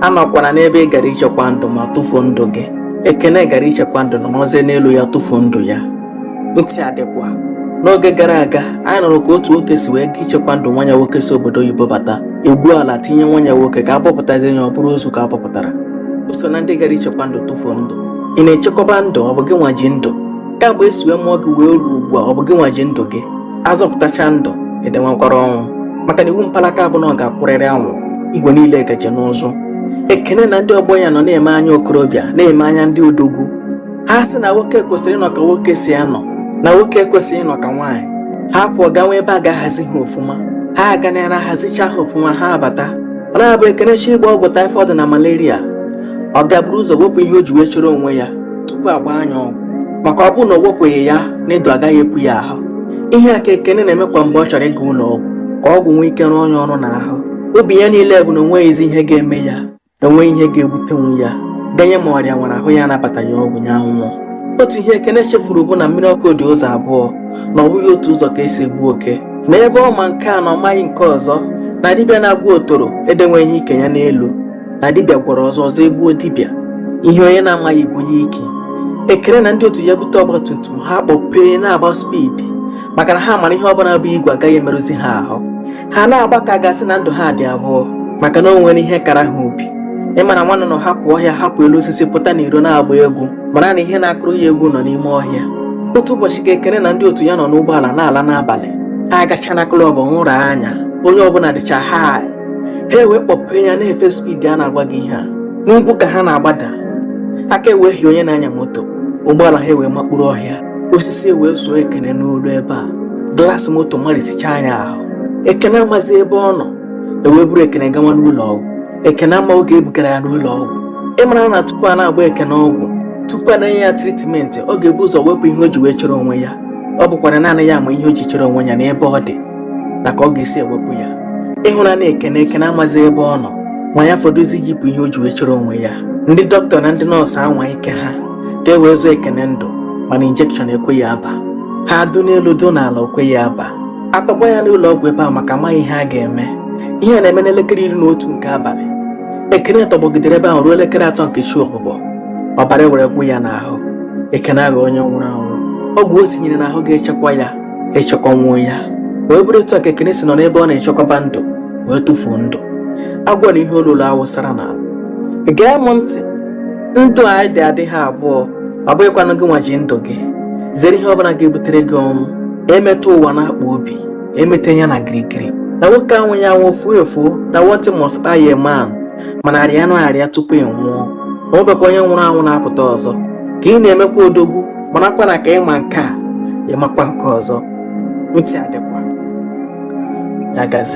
anọkwana n'ebe ị gara ichekwa ndụ ma tụfuo ndụ gị ekene gara ichekwa ndụ na nọzie n'elu ya tụfuo ndụ ya ntị adịkwa n'oge gara aga anyị nụrụ ka otu nwoke si wee ga ichekwa ndụ nwa nya nwoke si obodo oyibo bata egwuo ala tinye nwa nya nwoke ka abọpụtazie ya ọ bụrụ ozu ka abọpụtara o so na ndị gara ichekwa ndụ tụfuo ndụ ị na-echekwaba ndụ ọ bụ gị nwa ji ndụ kamgbe esi wee mụọ gị wee ruo ugbu a ọ bụ gị nwa ji ndụ gị azọpụtacha ndụ edenwekwara ọnwụ maka na iwu mpalaka bụ na ọ ga-akwụrịrị anwụrụ igwe niile gaje n'ụzụ ekene na ndị ọgbọ ya nọ na-eme anya okorobịa na-eme anya ndị odogwu ha sị na nwoke kwesịrị ịnọ ka nwoke si anọ na nwoke ekwesịghị ịnọ ka nwaanyị ha pụọ gawa ebe a ga-ahazi ha ọfụma ha aga na ya na-ahazicha ha ọfụma ha abata ọ na-abụ ekene chọọ ịgba ọgwụ taịfọdụ na malaria ọ ga-eburu ụzọ wepụ ihe o ji wee chere onwe ya tupu agba nya ọgwụ maka ọ bụrụ na o wepụghị ya needle agaghị epu ya ahụ ihe a ka ekene na-eme kwa mgbe ọ chọrọ ịga ụlọ ọgwụ ka ọgwụ nwee ike rụọ nya ọrụ n'ahụ obi ya niile bụ na onweghịzi ihe ga-eme ya na onweghị ihe ga-ebutenwu ya ganye ma ọrịa nwere ahụ ya anabata ya ọgwụ ya ṅụọ otu ihe ekene chefuru bụ na mmiri ọkụ dị ụzọ abụọ na ọ bụghị otu ụzọ ka esi egbu oke na ebe ọ ma nke a na ọ maghị nke ọzọ na dibịa na-agwọ otoro edenweghị ike ya n'elu na dibịa gwọrọ ọzọ ọzọ egbuo dibịa ihe onye na-amaghị bụ ya ike ekene na ndị otu ya bute ọgbatumtum ha kpọpee na-agba spidi maka na ha mara ihe ọbụla bụ igwe agaghị emerụzi ha ahụ ha na-agba ka a ga-asị na ndụ ha dị abụọ maka na o nwere ihe kara ha obi ịmara nwa nnụnụ hapụ ọhịa hapụ elu osisi pụta n'iro na-agba egwu mara na ihe na-akụrụ ya egwu nọ n'ime ọhịa otu ụbọchị ka ekene na ndị otu ya nọ n'ụgbọala na-ala n'abalị agacha na klọb ṅụrụ anya onye ọbụla dịcha ha ha ewee kpọpee ya na-efe spidi a na-agwa gị ihe a n'ugwu ka ha na-agbada aka ewehie onye na-anya moto ụgbọala ha ewee makpuru ọhịa osisi ewee suo ekene n'olu ebe a glaasị moto amarisicha nya ahụ ekene amazi ebe ọ nọ ewee buru ekene gawa n'ụlọ ọgwụ ekene ama oge ebugara ya n'ụlọ ọgwụ ịmara na tupu a na-agba ekene ọgwụ tupu a na-enye ya tritmenti ọ ga-ebu ụzọ wepụ ihe o ji wee chere onwe ya ọ bụkwara naanị ya ma ihe o ji chere onwe ya n'ebe ọ dị na ka ọ ga-esi ewepụ ya ịhụra na ekene ekene amazi ebe ọ nọ ma ya fọdụzi ijipụ ihe o ji wee chere onwe ya ndị dọkịta na ndị nọọsụ anwa ike ha ka e wee zọọ ekene ndụ mana injekshọn ekweghị aba ha dụ n'elu dụ n'ala okweghị aba atọgbọ ya n'ụlọ ọgwụ ebe a maka amaghị ihe a ga-eme ihe a na-eme n'elekere iri na otu nke abalị ekene tọgbọgidere ebe ahụ ruo elekere atọ nke chi ọbụbọ ọbara were gwụ ya n'ahụ ekene aghọ onye nwụrụ anwụ ọgwụ o tinyere n'ahụ ga-echekwa ya echekwanwuo ya wee bụrụ etu a ka ekene si nọ n'ebe ọ na-echekwaba ndụ wee tụfuo ndụ agwọ na ihe o loro awụsara n'ala gee m ntị ndụ anyị dị adịghị abụọ ọ bụghịkwanụ gị nwa ji ndụ gị zere ihe ọbụla ga-ebutere gị ọnwụ emeta ụwa n'akpọ obi emeta ya na girigiri na nwoke anwụ ya nwụọ fuo efuo na one thing must kpai a man mana rịanụ arịa tupu ị nwụọ ma ọ bụkwa onye nwụrụ anwụ na-apụta ọzọ ka ị na-emekwa odogwu marakwa na ka ị ma nke a ị makwa nke ọzọ ntị adịkwa ya gazie